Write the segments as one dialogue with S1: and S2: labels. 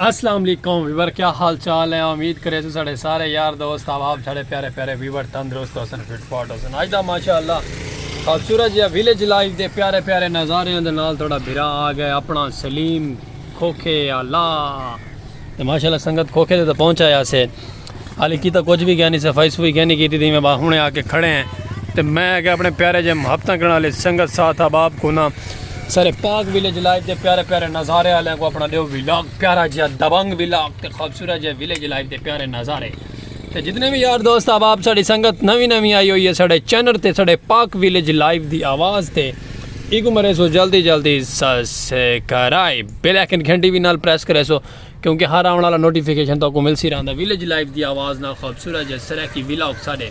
S1: السلام علیکم ویور کیا حال چال ہے امید کرے تو سارے سارے یار دوست احباب سارے پیارے پیارے ویور تندرست ہوسن فٹ فاٹ ہوسن اج دا ماشاءاللہ خوبصورت جی ویلیج لائف دے پیارے پیارے نظارے دے نال تھوڑا بھرا آ گئے اپنا سلیم کھوکھے اللہ تے ماشاءاللہ سنگت کھوکھے دے تے پہنچایا سے حالی کیتا کچھ بھی گیا نہیں صفائی صفائی گیا نہیں کیتی تھی میں باہونے آ کے کھڑے ہیں تو میں کہ اپنے پیارے جے محبتاں کرنا لے سنگت ساتھ اب آپ کو نا سارے پاک ویلیج لائف دے پیارے پیارے نظارے آلے کو اپنا دیو ویلاگ پیارا جیا دبنگ ویلاگ تے خوبصورت جے ویلیج لائف دے پیارے نظارے تے جتنے بھی یار دوست اب آپ ساڑی سنگت نوی نوی آئی ہوئی ہے ساڑے چینر تے ساڑے پاک ویلیج لائف دی آواز تے ایک مرے سو جلدی جلدی سسکرائب بیل ایکن گھنٹی بھی نال پریس کرے سو کیونکہ ہر آون والا نوٹیفیکیشن تو کو ملسی رہندا ویلیج لائف دی آواز نال خوبصورت جے سرائیکی ویلاگ ساڈے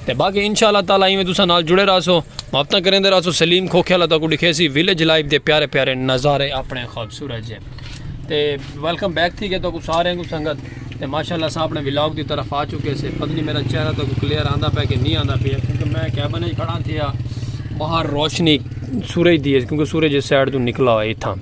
S1: تے باقی انشاءاللہ تعالی ایویں تساں نال جڑے رہسو محبتاں کریندے رہسو سلیم کھوکھے والا تو کو دکھیسی ویلیج لائف دے پیارے پیارے نظارے اپنے خوبصورت جے تے ویلکم بیک تھی گئے تو کو سارے کو سنگت تے ماشاءاللہ سا اپنے ویلاگ دی طرف آ چکے سے پتہ نہیں میرا چہرہ تو کو کلیئر آندا پے کہ نہیں آندا پے کیونکہ میں کیبن وچ کھڑا تھیا باہر روشنی سورج دی ہے کیونکہ سورج اس سائڈ تو نکلا ہوئے تھا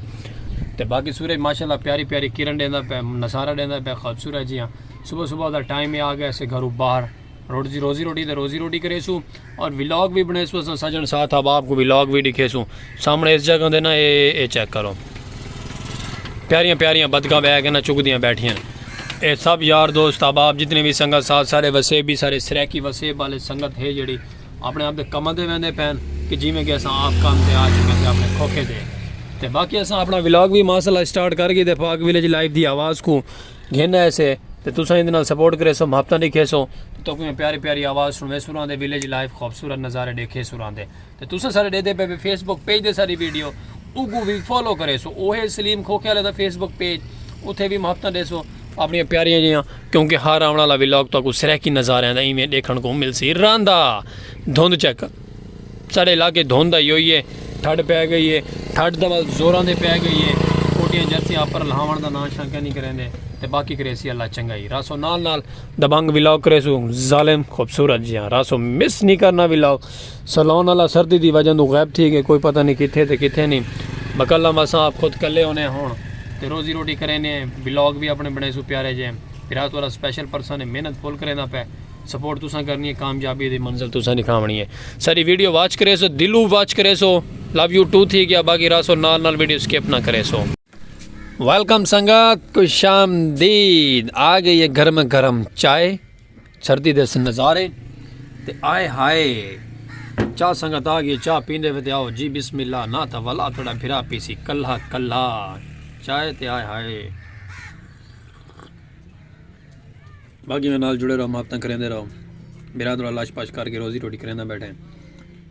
S1: تے باقی سورج ماشاءاللہ پیاری پیاری کرن ڈیندا پے نظارہ ڈیندا پے خوبصورت جیاں صبح صبح دا ٹائم ہے آ گیا سے گھرو باہر روزی روزی روٹی تے روزی روٹی کرے سو اور ولاگ بھی بنے سو سجن ساتھ اب آپ کو ولاگ بھی دکھے سو سامنے اس جگہ دے نا اے اے چیک کرو پیاریاں پیاریاں بدکاں بہ کے نا چک دیاں بیٹھیاں اے سب یار دوست اب آپ جتنے بھی سنگت ساتھ سارے وسیب بھی سارے سریکی وسیب والے سنگت ہے جڑی اپنے آپ دے کماں دے ویندے پین کہ جیویں کہ اساں آپ کام تے آ چکے سے اپنے کھوکھے دے تے باقی اساں اپنا ولاگ بھی ماسلہ اسٹارٹ کر گئی دے پاک ویلیج لائف دی آواز کو گھن آئے سے تے تساں اندے نال سپورٹ کرے سو محبتاں دیکھے سو تے تو کوئی پیاری پیاری آواز سنوے سوراں دے ویلیج لائف خوبصورت نظارے دیکھے سوراں دے تے تساں سارے دے دے پہ فیس بک پیج دے ساری ویڈیو اوگو بھی فالو کرے سو اوہے سلیم کھوکھے والے دا فیس بک پیج اتھے بھی محبتاں دے سو اپݨیاں پیاریاں جیاں کیونکہ ہر آوݨ آلا ولاگ تہاکوں سرائیکی نظاریاں دا ایویں ݙیکھݨ کوں ملسی رہندا دھند چک ساݙے علاقے دھند آئی ہوئی ہے ٹھڈ پئے گئی ہے ٹھڈ دا بس زوراں دے پئے گئی ہے کوٹیاں جرسیاں اپر لہاوݨ دا ناں شاں کینی کریندے تے باقی کریسی اللہ چنگائی راسو نال نال دبنگ ولاگ کریسو ظالم خوبصورت جیاں راسو مس نہیں کرنا ولاگ سلون والا سردی دی وجہ توں غائب تھی گئے کوئی پتہ نہیں کتھے تے کتھے نہیں بقلہ مساں آپ خود کلے ہونے ہن تے روزی روٹی کرینے ہیں ولاگ وی اپنے بنائے سو پیارے جے بھرا تہاڈا سپیشل پرسن ہے محنت فل کریندا پے سپورٹ تساں کرنی ہے کامیابی دی منزل تساں دکھاونی ہے ساری ویڈیو واچ کرے سو دلو واچ کرے سو لو یو ٹو تھی گیا باقی راسو نال نال ویڈیو سکپ نہ کرے سو ویلکم سنگت خوش آمدید آ گئی ہے گرم گرم چائے سردی دے سن نظارے تے آئے ہائے چاہ سنگت آ گئی چاہ پیندے وے تے آؤ جی بسم اللہ نہ تھا ولا تھوڑا بھرا پیسی کلہ کلہ چائے تے آئے ہائے باقی میں نال جڑے رہو ماپتاں کریندے رہو برادر اللہ شپاش کر کے روزی روٹی کریندہ بیٹھے ہیں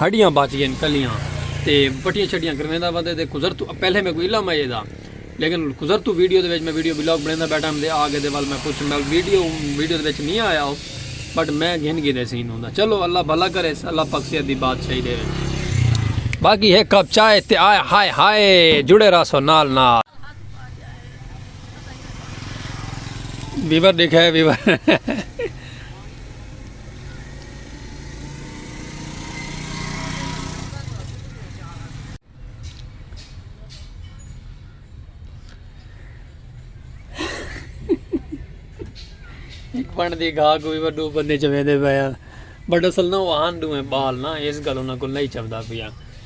S1: ہڈیاں بچ گئین کلیاں تے بٹیاں شٹیاں کرویندا ودے تے قذرتو پہلے میں کوئی علم ایدا لیکن قذرتو ویڈیو دے وچ میں ویڈیو بلاگ بنیندا بیٹھا ہم دے آ گئے دے ول میں پوچھ میں ویڈیو ویڈیو دے وچ نہیں آیا ہو بٹ میں گھن گھن ایسی ہوں دا چلو اللہ بھلا کرے اللہ پاک صحت دی بات صحیح دے باقی ہے کپ چائے تے آئے ہائے ہائے جڑے راسو نال نال ویور دیکھا ہے ویور پن دی گھا کو بھی وڈو بندے چویندے پیا بٹ اصل نہ وہ آن دوئے بال نہ اس گل انہاں کو نہیں چبدا پیا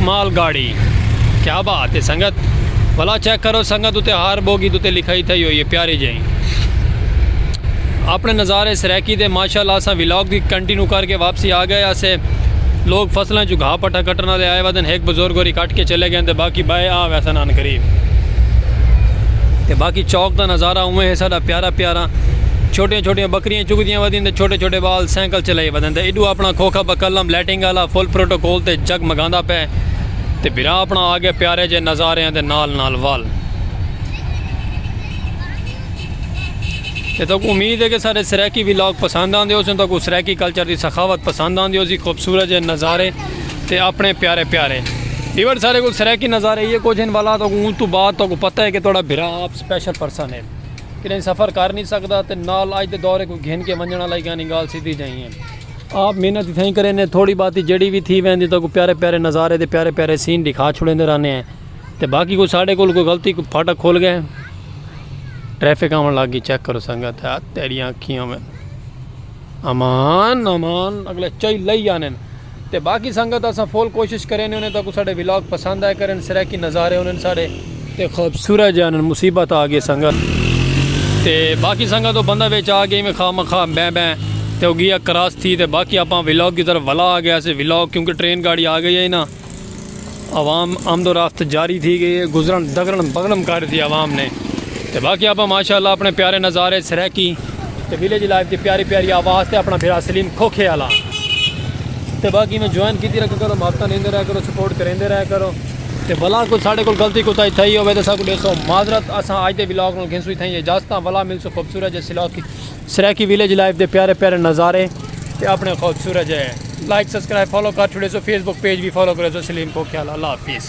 S1: مال گاڑی۔ کیا بات ہے سنگت۔ بھلا چیک کرو سنگت اتے ہر بوگی دے اتے لکھائی تھئی ہوئی ہے پیاری جئیں۔ اپنے نظارے سرائیکی دے ماشاءاللہ اساں ولاگ دی کنٹینیو کر کے واپسی آ گئے اسے۔ لوگ فصلاں چوں گھا پٹھا کٹن آلے آئے ودن ہک بزرگ ہوری کٹ کے چلے گئن تے باقی بائے آ ویسن عن قریب۔ تے باقی چوک دا نظارہ اوویں ہے ساڈا پیارا پیارا۔ چھوٹیاں چھوٹیاں بکریاں چگدیاں ودین تے چھوٹے چھوٹے بال سائیکل چلائی ودن تے ایڈو اپنا کھوکھا بکلم لیٹنگ۔ انگ آلا فل پروٹوکول تے جگ مگاندا پئے تے بھرا اپنا آ گئے پیارے جئے نظاریاں دے نال نال وال تے تاکو امید ہے کہ سارے سریکی ویلاگ پسند آندے ہو سن تاکو سریکی کلچر دی سخاوت پسند آندے ہو سی خوبصورت جئے نظارے تے اپنے پیارے پیارے ایور سارے کو سریکی نظارے یہ کچھ ان والا تاکو ان تو بعد تاکو پتہ ہے کہ توڑا بھرا آپ سپیشل پرسن ہے کہ نہیں سفر کر نہیں سکتا تے نال آج دے دورے کو گھن کے منجنہ لائے گا نگال سیدھی جائیں ہیں آپ محنت اتھاں ہی کریندے تھوڑی باتی جیڑی وی تھی ویندی تاکو پیارے پیارے نظارے تے پیارے پیارے سین دکھا چھوڑیندے رہنے ہیں تے باقی کوئی ساڑے کول کوئی غلطی کوئی پھاٹا کھول گئے ٹریفک آون لگ گئی چیک کرو سنگا تے تیڑیاں اکھیاں میں امان امان اگلے چائی لئی آنے تے باقی سنگا تے اساں فول کوشش کریندے ہونے تاکو ساڑے ولاگ پسند آئے کرن سرے کی نظارے ہونے ساڑے تے خوبصورت جانن مصیبت آ گئے سنگت تے باقی سنگت او بندہ وچ آ گئے میں خواہ مخواہ بیں بیں تے او گیا کراس تھی تے باقی اپاں ولاگ کی طرف ولا آ گیا سے ولاگ کیونکہ ٹرین گاڑی آ گئی ہے نا عوام آمد و رفت جاری تھی گئی ہے گزرن دگرن بگرن کر دی عوام نے تے باقی اپاں ماشاءاللہ اپنے پیارے نظارے سریکی تے ویلیج لائف دی پیاری پیاری آواز تے اپنا بھرا سلیم کھوکھے آلا تے باقی میں جوائن کی دی رکھ کرو مابتا نیندے رہ کرو سپورٹ کریندے رہ کرو تے ولا کوئی ساڈے کول غلطی کوتاہی تھئی ہووے تے اساں کوں ڈیسو معذرت اساں اج دے ولاگ نال گھنسوں اتھائیں اجازتاں ولا ملسوں خوبصورت جے سلاکی سرائیکی ویلیج لائف دے پیارے پیارے نظارے تے اپنے خوبصورت جے لائک سبسکرائب فالو کر چھوڑیسو فیس بک پیج وی فالو کریسو سلیم کھوکھیال اللہ حافظ۔